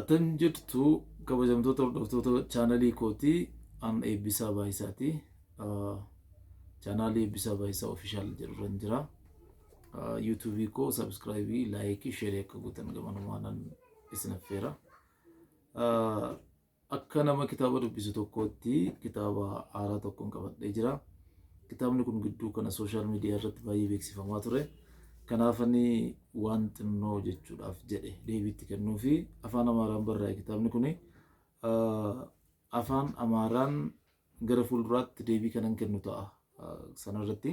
Attam jirtu kabajamtoota hordoftoota chaanalii kootii an eebbisaa baay'isaati. Chaanaalii eebbisaa baay'isaa ofishaal jedhurran jira. Yuutuubii koo sabskraayibii, laayikii, sheerii akka gootan gamanumaan isin affeera. Akka nama kitaaba dubbisu tokkootti kitaaba haaraa tokkon qabadhee jira. Kitaabni kun gidduu kana sooshaal miidiyaa irratti baay'ee beeksifamaa ture. Kanaafani waan xinnoo jechuudhaaf jedhe deebiitti kennuu fi afaan Amaaraan barraa'e kitaabni kun afaan Amaaraan gara fuulduraatti deebii kanan kennu ta'a sanarratti.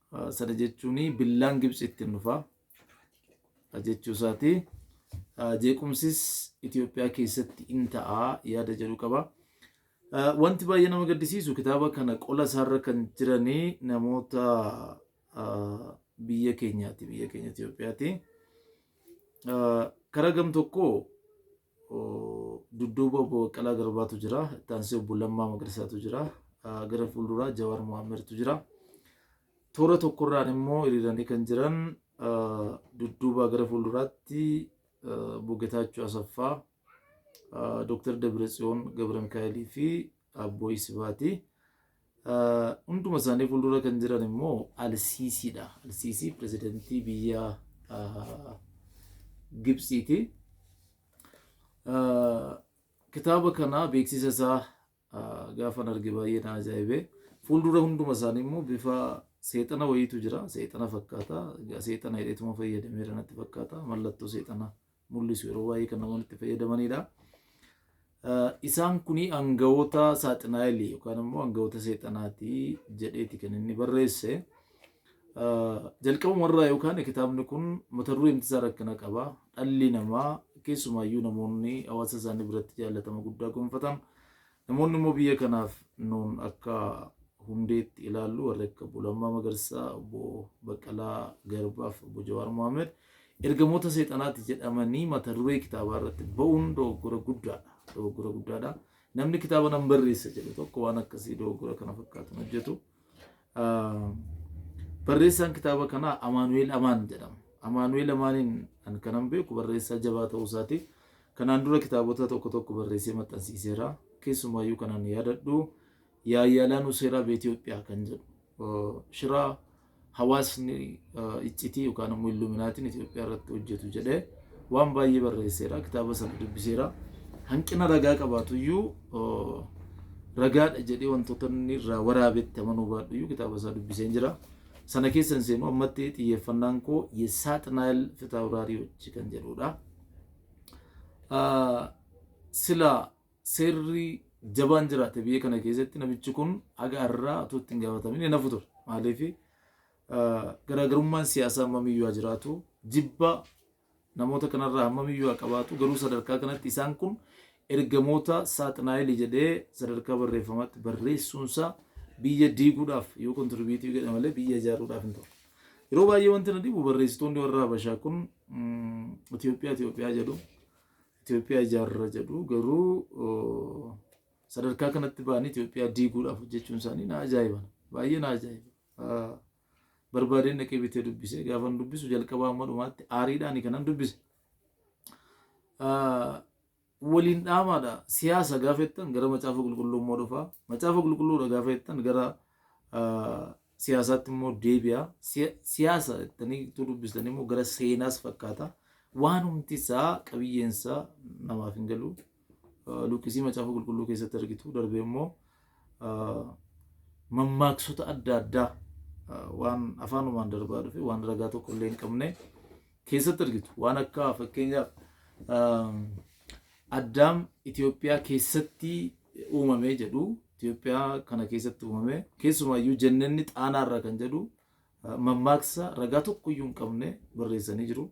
Sana jechuun billaan Gibtsi ittiin dhufa jechuu isaati. Jeequmsis Itoophiyaa keessatti in ta'a yaada jedhu qaba. Wanti baay'ee nama gaddisiisu kitaaba kana qola isaarra kan jiranii namoota biyya keenyaati biyya keenya Itoophiyaati. Karaa gam tokkoo Dudduuba Obbo Baqqalaa Garbaatu jira. Itti aansee Obbo Lammaa Magarsaatu jira. Gara fuulduraa Jawaar Mohaammertu jira. Toora tokkorraan immoo hiriiranii kan jiran dudduubaa gara fuulduraatti Obbo Getaachoo Asaffaa, Dooktar Dabratsiyoon Gabramikaa'elii fi Abboo Isibaati. Hunduma isaanii fuuldura kan jiran immoo Alsiisiidha. Alsiisii pirezidantii biyya Gibsiiti. Kitaaba kana beeksisa isaa gaafan arge baay'ee na ajaa'ibe. Fuuldura hunduma isaanii immoo bifa seexana wayiitu jira. Seexana fakkaata. Seexana hidheetuma fayyadameera natti fakkaata. Mallattoo seexana mul'isu yeroo baay'ee kan namoonni itti fayyadamanidha. Isaan kun aangawoota saaxinaayilii yookaan immoo aangawoota seexanaati jedheeti kan inni barreesse. Jalqabuma irraa yookaan kitaabni kun mata duree imtisaa rakkina qaba. Dhalli namaa keessumaayyuu namoonni hawaasa isaanii biratti jaallatama guddaa gonfatan Namoonni immoo biyya kanaaf nuun akka hundeetti ilaallu warri akka Obbo Lammaa Magarsaa, Obbo Baqqalaa Garbaa fi Obbo Jawaar Mohaammed ergamoota seexanaati jedhamanii mata duree kitaabaa irratti ba'uun dogoggora guddaadha. Dogoggora guddaadha. Namni kitaaba nan barreessa jedhu tokko waan akkasii dogoggora kana fakkaatu hin hojjetu. Barreessaan kitaaba kanaa Amaanu'eel Amaan jedhama. Amaanu'eel Amaaniin kan kanan beeku barreessaa jabaa ta'uu isaati. Kanaan dura kitaabota tokko tokko barreessee maxxansiiseera. Keessumaayyuu kanan yaadadhu Yaayyalaan Useeraa Beetiyoophiyaa kan jedhu shiraa hawaasni iccitii yookaan immoo illuminaatiin Itoophiyaa irratti hojjetu jedhee waan baay'ee barreesseera kitaaba sana dubbiseera hanqina ragaa qabaatu iyyuu ragaadha jedhee wantoota inni irraa waraabetti amanuu baadhu iyyuu kitaaba isaa dubbiseen jira sana keessa hin seenu ammatti xiyyeeffannaan koo yesaatinaayil fitaawuraarii hojii kan jedhudha sila seerri jabaan jiraate biyya kana keessatti namichi kun haga irraa utuu ittiin gaafatamin hin hafu ture maaliif garaagarummaan siyaasaa hammamiyyuu haa jiraatu jibba namoota kanarraa hammamiyyuu haa qabaatu garuu sadarkaa kanatti isaan kun ergamoota saaxinaayili jedhee sadarkaa barreeffamaatti barreessuunsaa biyya diiguudhaaf yoo kontirbiitii godhe malee biyya ijaaruudhaaf hin ta'u. Yeroo baay'ee wanti na dhibu barreessitoonni warra Habashaa kun Itoophiyaa Itoophiyaa jedhu Itoophiyaa ijaarra jedhu garuu sadarkaa kanatti ba'anii Itoophiyaa diiguudhaaf hojjechuun isaanii na ajaa'iba baay'ee na ajaa'iba. barbaadeen dhaqee bitee dubbise gaafan dubbisu jalqabaa amma dhumaatti aariidhaan kanan dubbise waliin dhaamaadha siyaasa gaafa jettan gara macaafa qulqulluu immoo dhufa macaafa qulqulluudha gaafa jettan gara siyaasaatti immoo deebi'a siyaasa jettanii utuu dubbistan immoo gara seenaas fakkaata waan humti isaa qabiyyeen isaa namaaf hin galu. luqqisii macaafa qulqulluu keessatti argitu darbee immoo mammaaksota adda addaa waan afaanumaan darbaa dhufe waan ragaa tokko illee hin qabne keessatti argitu waan akka fakkeenyaaf addaam Itoophiyaa keessatti uumamee jedhu Itoophiyaa kana keessatti uumamee keessumaayyuu jennenni xaanaarra kan jedhu mammaaksa ragaa tokkoyyuu hin qabne barreessanii jiru.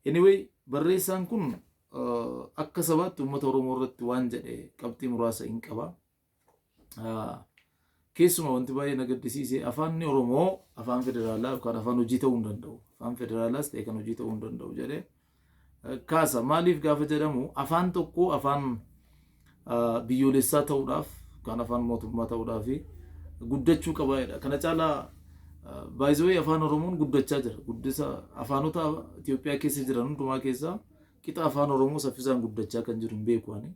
Anyway barreessaan kun akka sabaatti uummata Oromoo irratti waan jedhe qabxii muraasa in qaba. Keessumaa wanti baay'ee na gaddisiise afaanni Oromoo afaan federaalaa yookaan afaan hojii ta'uu hin danda'u. Afaan federaalaas ta'e kan hojii ta'uu hin danda'u jedhee kaasa. Maaliif gaafa jedhamu afaan tokko afaan biyyoolessaa ta'uudhaaf kaan afaan mootummaa ta'uudhaafi guddachuu qaba jedha. Kana caalaa by the way afaan Oromoon guddachaa jira. Guddisa afaanota Itoophiyaa keessa jiran hundumaa keessaa qixa afaan Oromoo saffisaan guddachaa kan jiru hin beeku ani.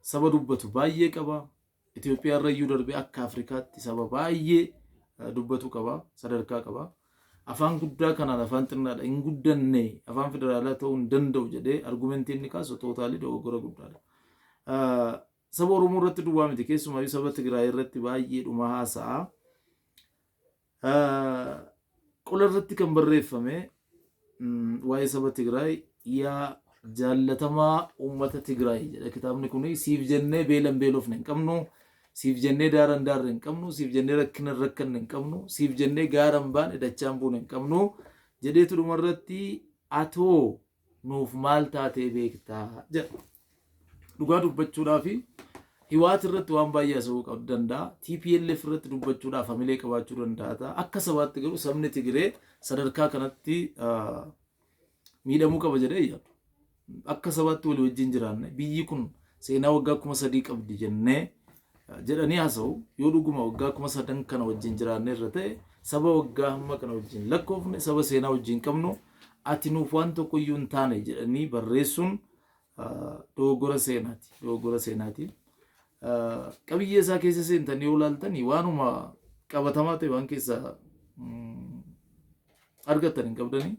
Saba dubbatu baay'ee qaba. Itoophiyaa irra iyyuu darbee akka Afrikaatti saba baay'ee dubbatu qaba, sadarkaa qaba. Afaan guddaa kanaan afaan xinnaadha hin guddanne afaan federaalaa ta'uu hin danda'u jedhee argumentii inni kaasu tootaalii dogoggora guddaadha. Saba Oromoo irratti duwwaa miti keessumaa saba Tigraay irratti baay'ee dhuma haasa'a. Qola irratti kan barreeffame waa'ee saba Tigraay yaa jaallatamaa uummata Tigraay jedha kitaabni kun siif jennee beelan beelofne hin qabnu siif jennee daaran daarre hin qabnu siif jennee rakkina hin rakkanne hin qabnu siif jennee gaaran baane dachaan buune hin qabnu jedheetu dhumarratti atoo nuuf maal taatee beektaa jedha. Dhugaa dubbachuudhaaf Hiwaat irratti waan baay'ee haasa'uu qab danda'a. TPLF irratti dubbachuudhaaf hamilee qabaachuu danda'a ta'a. Akka sabaatti garuu sabni Tigiree sadarkaa kanatti ah, miidhamuu qaba jedhee hin yaadu. Akka sabaatti walii wajjin jiraanne biyyi kun seenaa waggaa kuma sadii qabdi jennee jedhanii haasa'u. Yoo dhuguma waggaa kuma sadan kana wajjin jiraanneerra ta'e, saba waggaa hamma kana wajjin lakkoofne, saba seenaa wajjin qabnu, ati nuuf waan tokko iyyuu hin taane jedhanii barreessuun dogoggora seenaati. Dogoggora seenaati. Qabiyyee isaa keessa seentan yoo ilaaltanii waanuma qabatamaa ta'e waan keessa argattan hin qabdanii.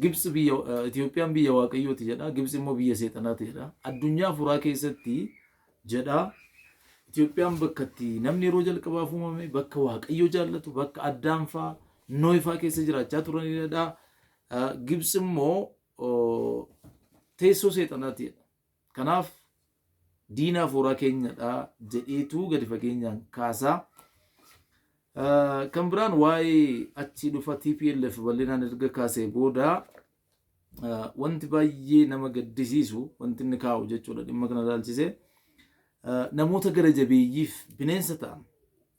Gibtsi biyya, Itoophiyaan biyya Waaqayyooti jedha, Gibtsi immoo biyya Seexanaati jedha. Addunyaa afuuraa keessatti jedha Itoophiyaan bakka itti namni yeroo jalqabaaf uumame, bakka Waaqayyo jaallatu, bakka Addaam faa, Noohi faa keessa jiraachaa turanidha. Gibtsi immoo teessoo Seexanaati jedha. Kanaaf diina hafuuraa keenyadha jedheetu gadi fageenyaan kaasa. Kan biraan waa'ee achii dhufa TPLF bal'inaan erga kaasee booda wanti baay'ee nama gaddisiisu wanti inni kaa'u jechuudha dhimma kana ilaalchisee namoota gara jabeeyyiif bineensa ta'an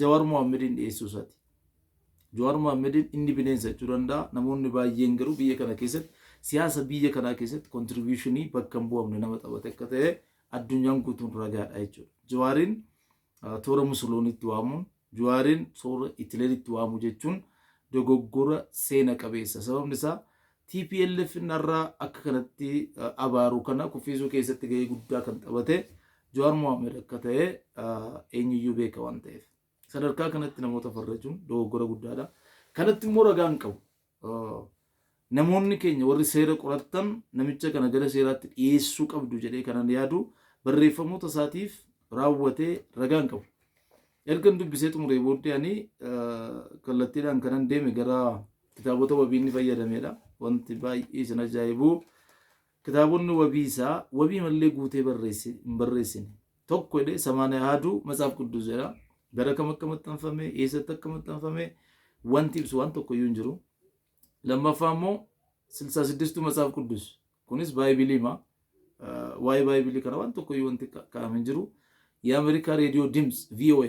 Jawar Mohammedin dhiyeessuu isaati. Jawar Mohammedin inni bineensa jechuu danda'a. Namoonni baay'een garuu biyya kana keessatti siyaasa biyya kanaa keessatti kontribuushinii bakka hin bu'amne nama taphate akka ta'e addunyaan guutuun ragaadha jechuudha. Jawaariin toora Musoloonitti waamuun, Jawaariin toora Itileeritti waamuu jechuun dogoggora seena qabeessa. Sababni isaa Tplf narra akka kanatti abaaru kana kuffiisuu keessatti gahee guddaa kan taphate Jawaar Mohaammed akka ta'e eenyuyyuu beeka waan ta'eef. Sadarkaa kanatti namoota farrajuun dogoggora guddaadha. Kanatti immoo ragaan qabu. Namoonni keenya warri seera qorattan namicha kana gara seeraatti dhiyeessuu qabdu jedhee kanan yaadu barreeffamoota isaatiif raawwatee ragaan qabu. Ergan dubbisee xumuree booddee ani kallattiidhaan kanan deeme gara kitaabota wabii inni fayyadameedha. Wanti baay'ee isin ajaa'ibu kitaabonni wabii isaa wabii mallee guutee barreesse hin barreessine. Tokko jedhee samaana yaadu matsaaf quddus jedha. Gara kam akka maxxanfame, eessatti akka maxxanfame wanti ibsu waan tokko iyyuu hin jiru. Lammaffaa immoo silsaa siddistuu matsaaf quddus kunis baaybiliima. Waa'ee baaybilii kana waan tokko iyyuu wanti kaa'ame hin jiru. Yaa Ameerikaa Reediyoo Dims VOA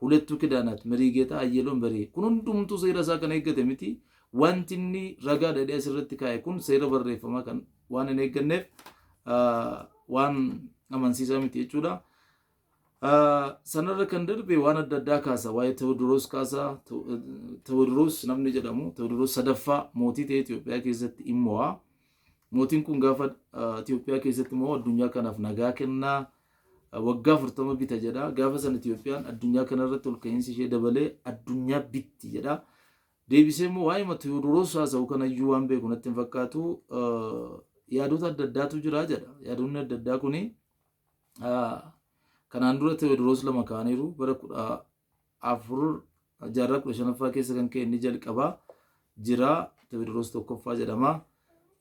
Hulettuu Kidaanaat, Meriigeetaa Ayyeloon Beree. Kun hundumtuu seera isaa kan eeggate miti. Wanti inni ragaadha jedhee asirratti kaa'e kun seera barreeffamaa kan waan hin eegganneef waan amansiisaa miti jechuudha. Sanarra kan darbe waan adda addaa kaasa. Waa'ee Tewodiroos kaasa. Tewodiroos namni jedhamu Tewodiroos sadaffaa mootii ta'e Itoophiyaa keessatti in mo'a. Mootiin kun gaafa Itoophiyaa keessatti mo'u addunyaa kanaaf nagaa kenna. Waggaa 40 bita jedha. Gaafa san Itoophiyaan addunyaa kanarratti ol ka'iinsi ishee dabalee addunyaa bitti jedha. Deebisee immoo waa'ee ma Tiyoodoroos haasa'u kanayyuu waan beeku natti hin fakkaatu. Yaadota adda addaatu jira jedha. Yaadonni adda addaa kuni kanaan dura Tewoodiroos lama kaaniiru bara kudha afur jaarraa kudha shanaffaa keessa kan ka'e inni jalqaba jira Tewoodiroos tokkoffaa jedhama.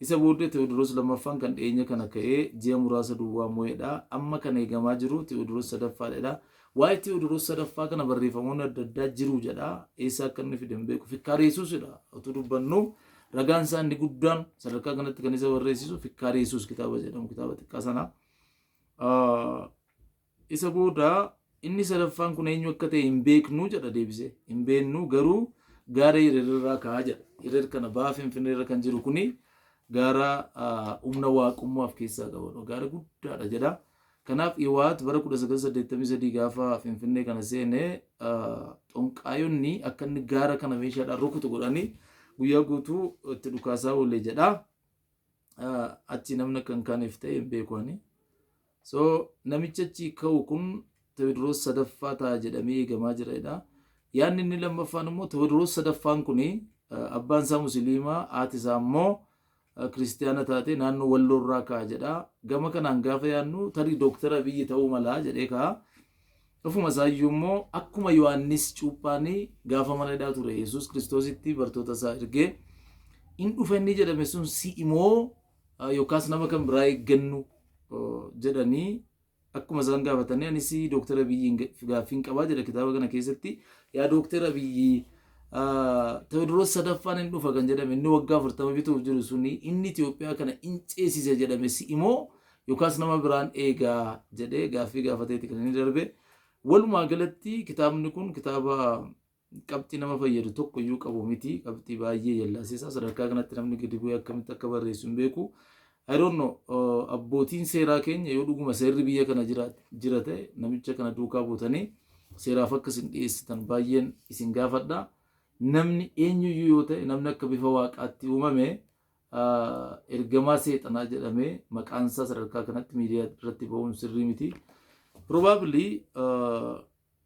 Isa booddee Tewoodiroos lammaffaan kan dhiyeenya kana ka'ee ji'a muraasa duwwaa mo'edha. Amma kan eegamaa jiru Tewoodiroos sadaffaadha. Waa'ee Tewoodiroos sadaffaa kana barreeffamoonni adda addaa jiru jedha. Eessa akka inni fide hin beeku. Fikkaara Yesuusidha. Otuu dubbannu ragaan isaa inni guddaan sadarkaa kanatti kan isa barreessisu Fikkaara Yesuus kitaaba jedhamu kitaaba xiqqaa sana. Isa booda, Inni sadaffaan kun eenyu akka ta'e hin beeknu jedha deebisee. Hin beeknu, garuu gaara Hirer irraa ka'a jedha. Hirer kana baha Finfinnee irra kan jiru kuni gaara humna waaqummaa of keessaa qabudha. Gaara guddaadha jedha. Kanaaf Iwaat bara 1983 gaafa Finfinnee kana seene xonqaayonni akka inni gaara kana meeshaadhaan rukutu godhanii guyyaa guutuu itti dhukaasaa oole jedha. Achi namni akka hin kaaneef ta'e hin beeku ani. So namichi achi ka'u kun Tewodiroos sadaffaa ta'a jedhamee eegamaa jira jedha. Yaadni inni lammaffaan immoo Tewodiroos sadaffaan kun abbaan isaa musiliimaa haati isaa immoo kiristiyaana taate naannoo walloorraa ka'a jedha. Gama kanaan gaafa yaadnu tarii dooktara Abiyyi ta'uu malaa jedhee ka'a. Ofuma isaayyuu immoo akkuma Yohaannis cuuphaan gaafa mana hidhaa ture Yesuus kiristoositti bartoota isaa ergee in dhufa inni jedhame sun si'imoo yookaas nama kan biraa eeggannu jedhanii akkuma isaan gaafatanii anis Dooktar Abiyyiin gaaffiin qabaa jedha kitaaba kana keessatti yaa Dooktar Abiyyi Tewoodiroos sadaffaan hin dhufa kan jedhame inni waggaa afurtama bituuf jiru suni inni Itoophiyaa kana hin ceesisa jedhame si imoo yookaas nama biraan eegaa jedhee gaaffii gaafateeti kan inni darbe. Walumaa galatti kitaabni kun kitaaba qabxii nama fayyadu tokko iyyuu qabu miti qabxii baay'ee jallaasisaa sadarkaa kanatti namni gadi bu'ee akkamitti akka barreessu hin beeku I don't know uh, abbootiin seeraa keenya yoo dhuguma seerri biyya kana jira, jira ta'e namicha kana duukaa buutanii seeraaf akka isin dhiyeessitan baay'een isin gaafadha namni eenyuyyuu yoo ta'e namni akka bifa waaqaatti uumame uh, ergamaa seexanaa jedhamee maqaan isaa sadarkaa kanatti miidiyaa irratti ba'uun sirrii miti probably uh,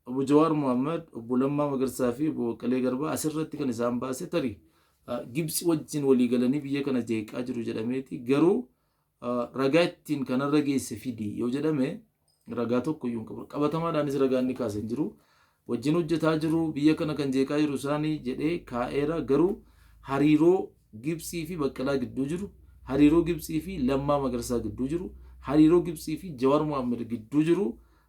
Obbo Jawaar Mohammad, Obbo Lammaa Magarsaa fi Obbo Baqqalee Garbaa asirratti kan isaan baase tarii Gibtsi wajjin walii galanii biyya kana jeeqaa jiru jedhameeti. Garuu ragaa ittiin kanarra geesse fidi yoo jedhame ragaa tokko iyyuu hin qabu. Qabatamaadhaanis ragaa inni kaase hin jiru. Wajjin hojjetaa jiru biyya kana kan jeeqaa jiru isaanii jedhee kaa'eera. Garuu hariiroo Gibtsii fi Baqqalaa gidduu jiru, hariiroo Gibtsii fi Lammaa Magarsaa gidduu jiru, hariiroo Gibtsii fi Jawaar Mohaammed gidduu jiru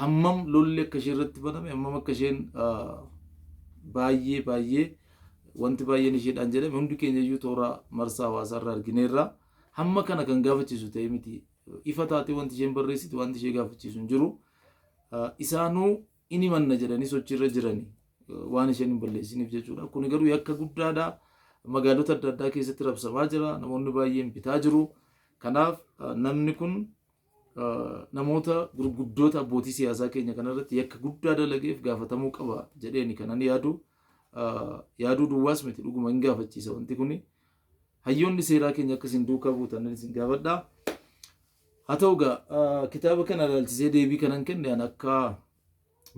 hammam lolli akka ishee irratti baname hammam akka isheen baay'ee baay'ee wanti baay'een isheedhaan jedhame hundi keenya iyyuu toora marsaa hawaasaa irraa argineerra hamma kana kan gaafachiisu ta'e miti ifa taatee wanti isheen barreessite wanti ishee gaafachiisu hin jiru isaanuu inni manna jedhanii sochiirra jiranii waan isheen hin balleessiniif jechuudha kuni garuu yakka guddaadha magaalota adda addaa keessatti rabsamaa jira namoonni baay'een bitaa jiru kanaaf namni kun namoota gurguddoota abbootii siyaasaa keenya kanarratti yakka guddaa dalageef gaafatamuu qaba jedheeni kanan yaadu yaaduu duwwaas miti dhuguma hin gaafachiisa wanti kuni hayyoonni seeraa keenya akka isin duukaa buutan isin gaafadha. Haa ta'u egaa kitaaba kana ilaalchisee deebii kanan kenne an akka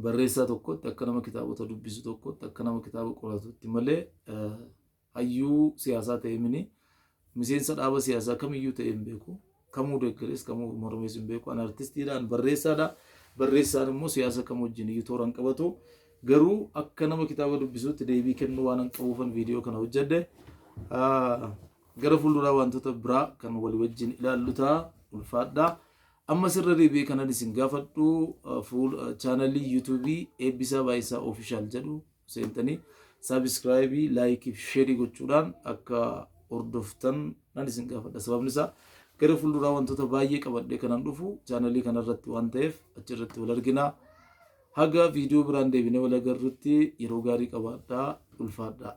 barreessaa tokkotti akka nama kitaabota dubbisu tokkotti akka nama kitaaba qoratutti malee Hayyuu siyaasaa ta'ee mini miseensa dhaaba siyaasaa kamiyyuu ta'ee hin beeku. Kamuu deeggarees kamuu mormees hin beeku. Ani artistiidha, ani barreessaadha. Barreessaan immoo siyaasa kam wajjin iyyuu toora hin qabatu. Garuu akka nama kitaaba dubbisuutti deebii kennuu waan hin qabuufan viidiyoo kana hojjedhe. Ah, Gara fuulduraa wantoota biraa kan walii wajjin ilaallu ta'a. Ulfaadha. Amma sirra deebi'ee kanan isin gaafadhu ah, fuul ah, chaanalii yuutuubii Eebbisaa Baay'isaa Oofishaal jedhu seentanii saabiskraayibii laayikii fi sheerii gochuudhaan akka hordoftan nan isin gaafadha sababni isaa gara fuulduraa wantoota baay'ee qabadhee kanan dhufu chaanalii kanarratti waan ta'eef achirratti wal arginaa haga viidiyoo biraan deebinee wal agarrutti yeroo gaarii qabaadhaa ulfaadhaa.